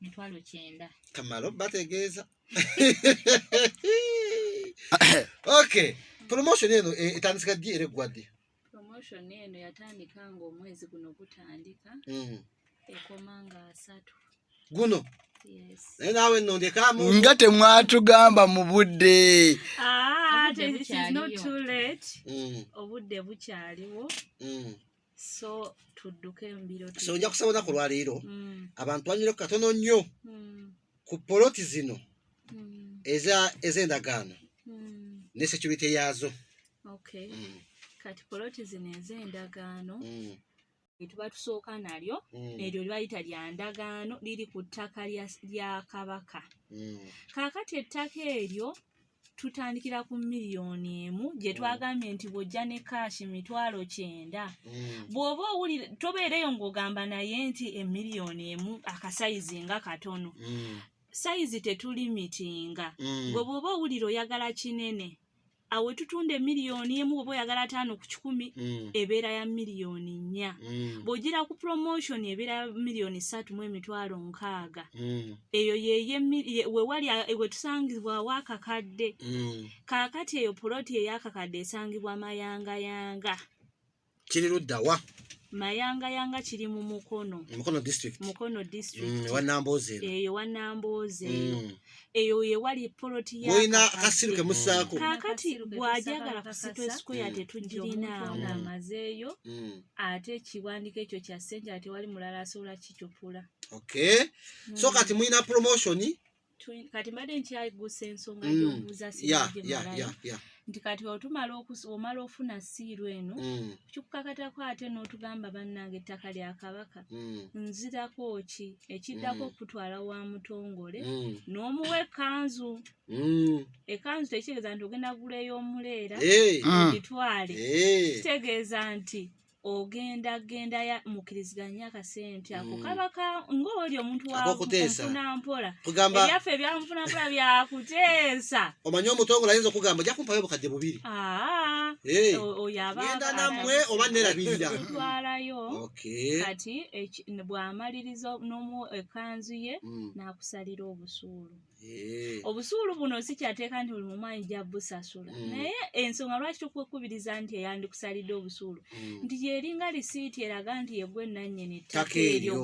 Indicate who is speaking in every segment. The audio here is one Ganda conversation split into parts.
Speaker 1: mitwalo kyenda kamala obategeeza
Speaker 2: okay promotion eno eh, etandika ddi era eggwa ddi promotion eno
Speaker 1: yatandika nga omwezi guno gutandika mm. ekoma nga asatu guno naye naawe nno
Speaker 2: ndekamu nga temwatugamba
Speaker 3: mu budde ah,
Speaker 1: mm. obudde bukyaliwo mm. so tudduke mbiro so ojja kusaba olunaku
Speaker 2: olwaleero mm. abantu banyire ku katono nnyo mm. ku poloti zino mm. ez'endagaano ne security yaazo
Speaker 1: kati poloti zino ez'endagaano etuba tusooka nalyo eryo libayita lya ndagaano liri ku ttaka lya kabaka kaakati ettaka eryo tutandikira ku miliyoni emu gye mm. twagambye nti bw'ojja ne kaashi mitwalo kyenda mm. bw'oba owulira tobeereyo ng'ogamba naye nti emiliyoni emu akasayizi nga katono mm. sayizi tetulimitinga gwe bw'oba owulira oyagala kinene awo etutunda emiliyoni emu oba oyagala ataano ku kikumi mm. ebeera ya miliyoni nnya mm. bw'ogira ku promotion ebeera ya miliyoni ssatu mu emitwalo nkaaga mm. eyo wewali wetusangibwawo akakadde mm. kaakati eyo puloti eyakakadde esangibwa mayangayanga
Speaker 2: kiri luddawa mayangayanga
Speaker 1: kiri mu mukono mukono district mukono
Speaker 2: district
Speaker 1: mm, wanamboze eyo
Speaker 2: wanamboze
Speaker 1: mm. eyo ye wali poloti ya oyina kasiru ke
Speaker 2: musako kakati
Speaker 1: gwajagala ku sitwe square mm. tetujirina amazeyo mm. ate kiwandike ekyo kya sente ate wali mulala asobola kikyopula okay
Speaker 2: mm. so kati mulina promotion kati
Speaker 1: mbadde nkyayigusa ensonga mm. yobuuza sigemalayo nti kati otumala omala ofuna siiru eno mm. kikukakatako ate n'otugamba bannange ettaka lya kabaka mm. nzirako ki ekiddako mm. okutwala wa mutongole mm. n'omuwa ekanzu mm. ekanzu tekitegeeza nti ogenda gula ey'omuleera hey. Eh. ogitwale hey. Eh. kitegeeza nti ogenda genda ya mukiriziganya akasente ako mm. kaba ka ng'oli omuntu wakuteesanampola ebyaffe ebyanfunampola byakuteesa omanyi omutongole
Speaker 2: ayinza okugamba ojja kumpayo obukadde bubiri genda nammwe oba nerabirira twalayo
Speaker 1: kati bw'amaliriza n'omu ekanzu ye mm. n'akusalira obusuulu Eh. obusuulu buno sikyateeka nti buli mumu ayinja busasula mm. naye ensonga lwaki tukwekubiriza nti eyandikusalidde obusuulu mm. nti yeringa lisiiti eraga nti yegwe nanyini ttaka eryo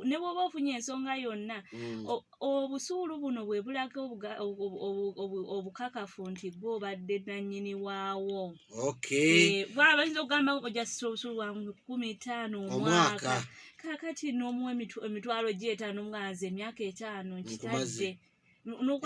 Speaker 1: ne bwoba ofunye ensonga yonna mm. obusuulu buno bwe bulaga obukakafu nti gwe obadde nanyini waawo eh, bwaba yinza okugamba ojasisa obusuulu bwa kumi taano omwaka kakati n'omu emitwalo gy'etaano nga nze emyaka etaano nkitadde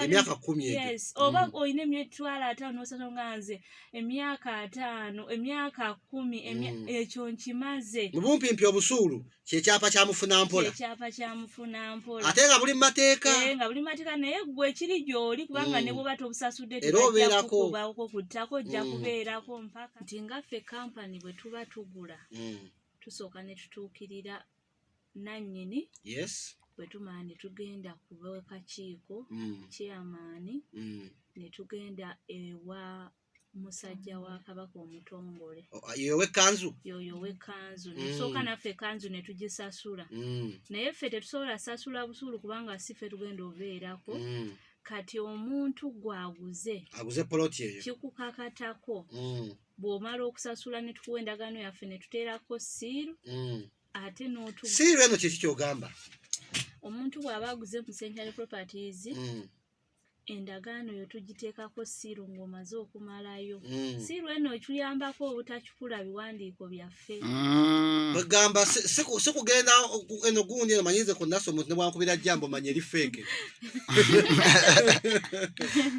Speaker 1: emyaka
Speaker 2: kumi yes oba mm. olina
Speaker 1: emitwalo ataano osatu nga nze emyaka ataano emyaka kumi mm. ekyo nkimaze mu bumpimpi obusuulu
Speaker 2: kyekyapa kya mufuna mpola ekyapa kya mufuna
Speaker 1: mpola ate nga buli mateeka
Speaker 2: eh, nga buli mateeka naye
Speaker 1: gwe kiri gyoli kubanga mm. ne bwoba tobusasudde tebajjakukubaoko kuttako ojja kubeerako mpaka nti ngaffe kampani bwe tuba tugula tusooka ne tutuukirira nannyini yes
Speaker 2: bwe tumala ne
Speaker 1: tugenda ku b'akakiiko mm. chairmani mm. ne tugenda ewa musajja wa kabaka omutongole ah, yoyo wekkanzu
Speaker 2: yoyo wekkanzu
Speaker 1: mm. nesooka naffe ekanzu ne tugisasula naye ffe tetusobola sasula busuulu kubanga si ffe tugenda obeerako kati omuntu gwaguze aguze poloti eyo
Speaker 2: kikukakatako mm.
Speaker 1: bw'omala okusasula ne tukuwa endagaano yaffe ne tuteerako siiru mm. ate n'otu siiru eno
Speaker 2: kiki kyogamba omuntu
Speaker 1: bw'aba aguze mu century properties mm. endagaano yo tugiteekako siiru ng'omaze okumalayo mm. siiru eno okiyambako obutakikula biwandiiko byaffe Mm. bagamba
Speaker 2: si- si ku- si kugenda oku- eno gundi eno manyinze ku naso omuntu nebwankubira jambo manya eri feeke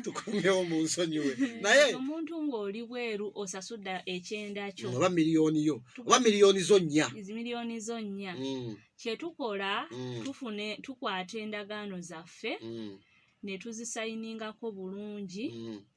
Speaker 2: tukomyewo mu nsonyiwe naye omuntu ng'oli
Speaker 1: bweru osasudde ekyenda
Speaker 2: kyo
Speaker 1: oba miliyoni
Speaker 2: yo oba
Speaker 1: miliyoni zo nnya
Speaker 2: zi miliyoni
Speaker 1: zo nnya
Speaker 2: Mm,
Speaker 1: kyetukola Mm. tufune tukwata endagaano zaffe mm, ne tuzisayiningako bulungi mm,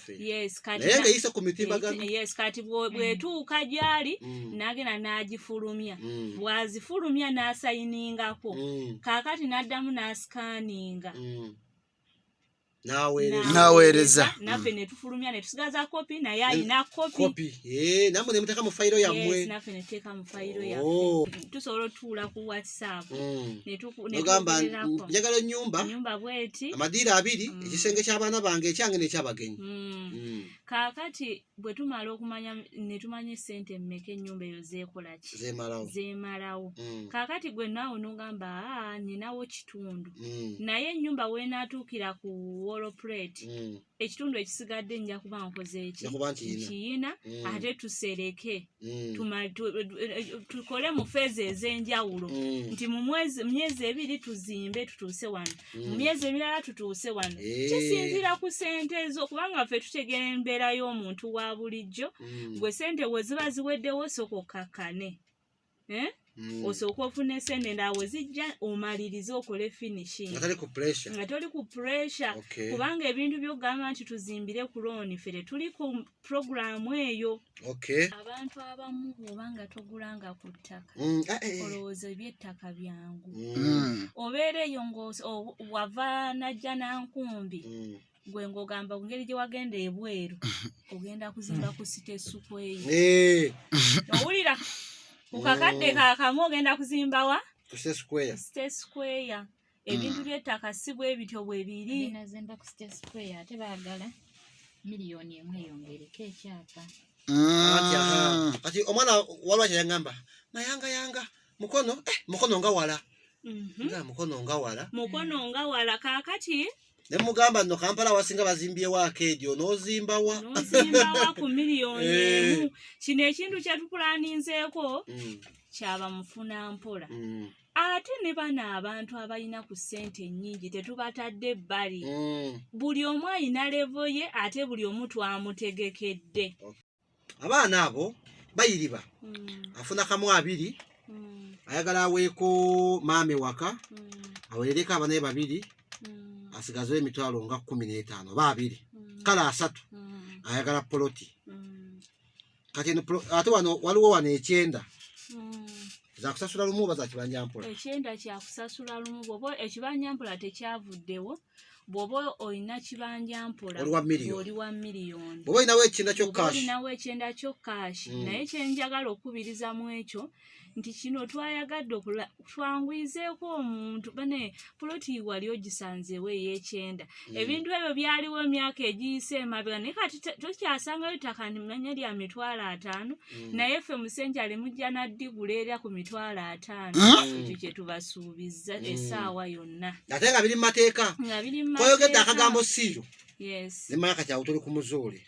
Speaker 2: baffe naye nga eyise ku mitimbagano kati
Speaker 1: bwetuuka mm. gyali mm. nagenda n'agifulumya mm. bwazifulumya n'asayiningako kaakati n'addamu n'asikaninga
Speaker 3: naweereza naffe mm. netufulumya
Speaker 1: netusigaza kopi naye alina kopi eh,
Speaker 2: namwe nemuteka mu fayiro yammwe naffe netuteeka mu
Speaker 1: fayiro yaffe oh. tusobola otuula ku saako mm.
Speaker 2: ogamba njagala enyumba enyumba bweti amadiira
Speaker 1: abiri mm.
Speaker 2: ekisenge ky'abaana bange ekyange nekyabagenyi mm. mm.
Speaker 1: kaakati bwe tumala okumanya ne tumanya esente emmeka ennyumba eyo zeekolaki zemalawo zemalawo mm. kaakati gwe naawe nogamba aa ninawo kitundu mm. naye ennyumba weenaatuukira ku woloplate mm. ekitundu ekisigadde nja kuba nkoze eki nkiyina mm. ate tusereke mm. tukole mu feeza ez'enjawulo mm. nti mu myezi ebiri tuzimbe tutuuse wano mu myezi emirala tutuuse wano eh. kisinziira ku sente ezo kubanga ffe tutegeera embeera y'omuntu wa bulijjo gwe sente we ziba ziweddewo soka okkakkane eh? mm. osooka ofuna esente ndaawo zijja omalirize okole finishing nga toli ku pressure okay. kubanga ebintu byokugamba nti tuzimbire ku looni fere tuli ku programu eyo okay. abantu abamu bwoba nga togulanga ku ttaka mm. ah, eh, eh. olowooza ebyettaka byangu mm. obeera eyo ngawava najja nankumbi mm. gwe ng'ogamba ku ngeri gye wagenda ebweru ogenda kuzimba ku site esuku eyo Eh, owulira ku kakadde kakamu ogenda kuzimba wa ku State Square. site square ebintu by'ettaka si bwe bityo bwe biri Nazimba ku State
Speaker 4: Square ate baagala miliyoni emu eyongereko ekyapa. Kati, aha.
Speaker 2: Mm. Kati omwana walwa kyeyangamba mayanga yanga mukono eh, mukono nga wala Mhm. nga mukono nga wala
Speaker 1: mukono nga wala kakati ne mugamba
Speaker 2: no Kampala wasinga bazimbyewo akeedi onoozimbawa nozimbawa ku
Speaker 1: miliyoni eh. emu kino ekintu kyetukulaninzeeko mm. kyaba mufuna mpola mm. ate ne bano abantu abalina ku ssente ennyingi tetubatadde ebbali mm. buli omu alina levo ye ate buli omu twamutegekedde abaana
Speaker 2: abo bayiriba mm. afuna kamu abiri mm. ayagala aweeko maame waka mm. awerereko abanaye babiri mm. asigazewo emitwalo nga kumi n'etaano oba abiri mm. kale asatu mm. ayagala poloti mm. kati ate wano waliwo wano ekyenda mm. zakusasula lumu oba zakibanja mpola ekyenda kyakusasula
Speaker 1: lumu bwoba ekibanyampula tekyavuddewo bw'oba olina kibanja mpola oli wa miliyoni bw'oba olinawo ekyenda
Speaker 2: kyokaolinawo ekyenda kyokashi hmm. naye kyenjagala
Speaker 1: okukubiriza mu ekyo nti kino twayagadde okula twanguyizeeko omuntu bane poloti wali ogisanzeewo ey'ekyenda hmm. ebintu ebyo byaliwo emyaka egiyise emabega naye kati tokyasangayo ttaka nimanya lya mitwalo ataano hmm. naye ffe musenja limujja naddigula era ku mitwalo ataano ekyo kyetubasuubizza essaawa yona byonna ate nga biri mu mateeka
Speaker 2: koyogedde akagambo siiyo nemala kati awo tuli ku muzuuli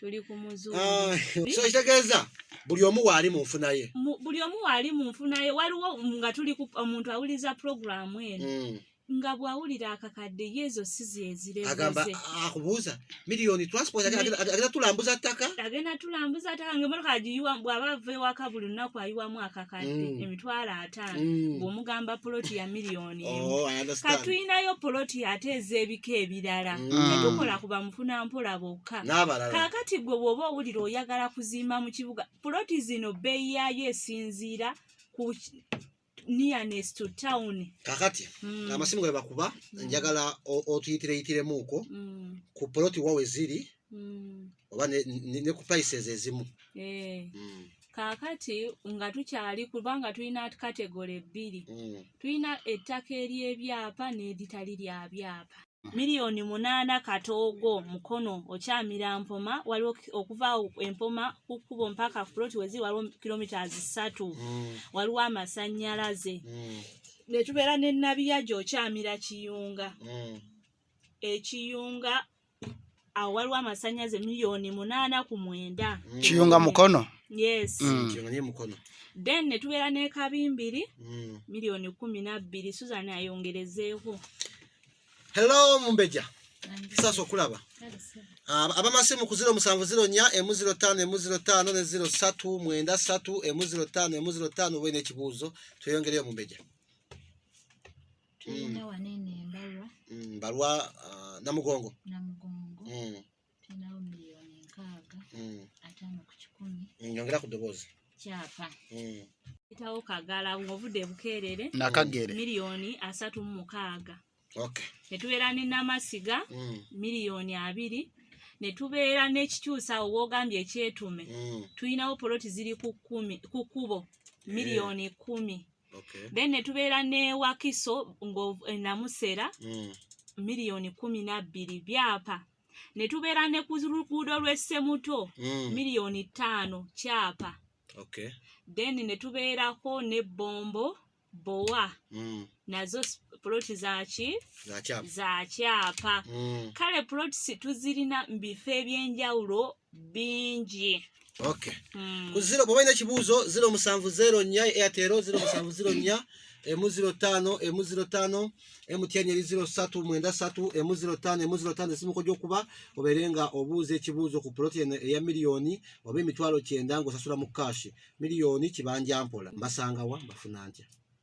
Speaker 2: ah, so kitegeeza buli omu waali mu nfuna ye buli omu waali mu nfuna ye waliwo nga tuli omuntu awuliriza puroguramu eno hmm. nga bwawulira akakadde yezo sizi ezirezeze akubuuza Million transport agenda tulambuza ttaka. Agenda tulambuza ttaka
Speaker 1: ng'emmotoka agiyiwa bw'aba ava ewaka buli lunaku ayiwamu akakadde mm. emitwalo ataano mm. bw'omugamba poloti ya miliyoni oh, ka tulinayo poloti ate ez'ebika ebirala mm. tetukola ku bamufuna mpola bokka kaakati gwe bw'oba owulira oyagala kuzimba mu kibuga poloti zino bbeeyi yaayo esinziira ku nearness to town kakati
Speaker 2: mm. amasimu ge bakuba mm. njagala otuyitireyitiremukwo mm. ku poloti wawe ziri mm. oba ne, ne, ne ku prices ezimu eh. mm. kakati
Speaker 1: nga tukyali kubanga tulina kategole bbiri mm. tulina ettaka ery'ebyapa n'eritali lya byapa Milioni munana katogo mukono okyamira mpoma waliwo okuva empoma kukubo mpaka plot wezi waliwo kilometers satu mm. waliwo amasanyalaze mm. netubera ne nabiya jo okyamira kiyunga mm. ekiyunga awo waliwo amasanyaze miliyoni munaana ku mwenda mm. kiyunga mukono yes mm.
Speaker 2: then netubeera
Speaker 1: nekabimbiri mm. miliyoni kumi nabbiri susan ayongerezeeko
Speaker 2: hello mumbeja sasa okulaba ah, abamasimu ku ziro musanvu ziro nya emu ziro tano emu ziro tano ne ziro satu mwenda satu emu ziro tano emu ziro tano oba nekibuuzo tweyongereyo mumbeja
Speaker 4: tulina mm. wano eno embalwa mm, mbalwa uh,
Speaker 2: namugongo namugongo mm. tulinawo
Speaker 4: miliyoni nkaaga mm. ataano ku kikumi mm, nyongera ku ddoboozi
Speaker 2: kyapa
Speaker 4: mm. etawo
Speaker 1: kagala ng'ovudde bukeerere nakagere miliyoni
Speaker 3: asatu
Speaker 1: mu mukaaga okay.
Speaker 2: ne tubeera ne
Speaker 1: namasiga mm. miliyoni abiri ne tubeera n'ekikyusa awo woogambye ekyetume mm. tulinawo poloti ziri ku kkubo eh. miliyoni kkumi mm. okay. then
Speaker 2: netubeera
Speaker 1: newakiso ngaenamusera eh, mm. miliyoni kumi nabbiri byapa netubeera ne ku luguudo lw'essemuto mm. miliyoni ttaano kyapa okay.
Speaker 2: then
Speaker 1: netubeerako ne bombo bowa mm. nazo poloti zaki za kyapa mm. kale poloti tuzirina mu bifo ebyenjawulo bingi okay
Speaker 2: mm. ku zero bwoba olina kibuuzo zero musanvu zero nnya airtel zero musanvu zero nnya emu ziro tano emu ziro tano emu tyenyeri ziro satu mwenda satu emu ziro tano emu ziro tano esimu kujja okuba obeere nga obuuza ekibuuzo ku poloti eno eya miliyoni oba emitwalo kyenda ng'osasula mu kaashi miliyoni kibanja mpola mbasangawa mbafuna ntya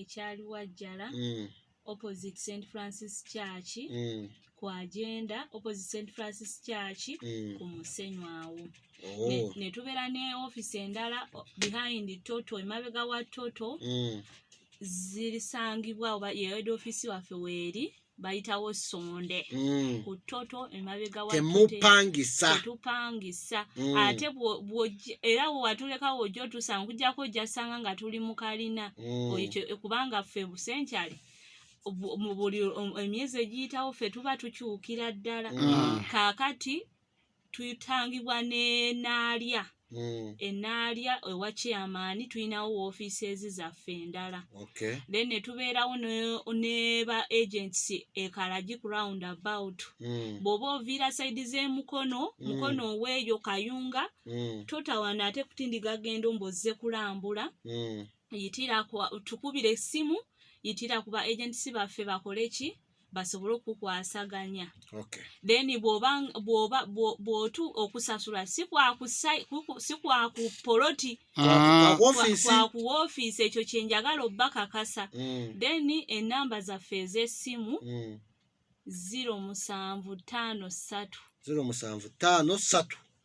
Speaker 1: ekyali wajjala mm. opposite st francis church mm. ku agenda opposite st francis church mm. ku musenyu awo oh. ne tubeera ne office endala behind toto emabega wa toto mm. zirisangibwa oba yeed office waffe weeri mm. bayitawo sonde mm. ku toto emabega wa temupangisa tetupangisa mm. ate era watuleka wojja otusanga kujjako ojjasanga nga tuli mu kalina mm. ekyo kubanga ffe busenkyali mu buli emyezi egiyitawo ffe tuba tukyukira ddala mm. kaakati tuyitangibwa n'enaalya hmm. enaalya ewa chairman tulinawo woofiises zaffe endala then ne tubeerawo ne ba agents ekalagi ku round about hmm. bw'oba oviira saidi z'emukono hmm. mukono oweeyo kayunga totawana ate kutindiga gendo mbozze kulambula yitira tukubira essimu yitira ku ba agents baffe bakole ki basobole okukwasaganya okay. then bwotu okusasula sikwakupoloti ah. kwakuwoofiisi ekyo kyenjagala obba kakasa mm. then enamba zaffe ez'essimu mm. ziro musanvu ttaano ssatu ziro musanvu
Speaker 2: ttaano ssatu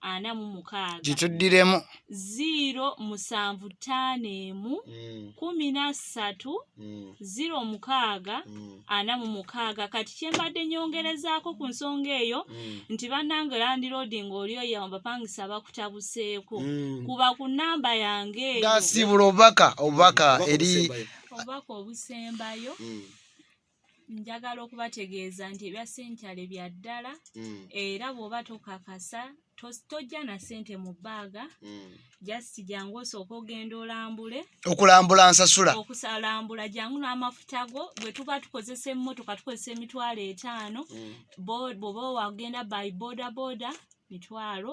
Speaker 1: ana mu mukaaga kituddiremu
Speaker 3: ziiro musanvu
Speaker 1: ttaano emu mm. kumi na ssatu mm. ziiro mukaaga mm. ana mu mukaaga kati kyembadde nyongerezaako ku nsonga eyo nti bannange landiroodi ng'oli oyo abapangisa bakutabuseeko kuba ku nnamba yange eyo gasiibula obubaka
Speaker 3: obubaka eri obubaka
Speaker 1: obusembayo njagala okubategeeza nti ebya sentale bya ddala mm. era bw'oba tokakasa tojja na sente mu bbaaga mm. just jangu osooka ogenda olambule okulambula nsasula
Speaker 3: okusalambula jangu
Speaker 1: n'amafuta go bwe tuba tukozesa emmotoka tukozesa emitwalo etaano mm. bwoba wagenda by boda boda mitwalo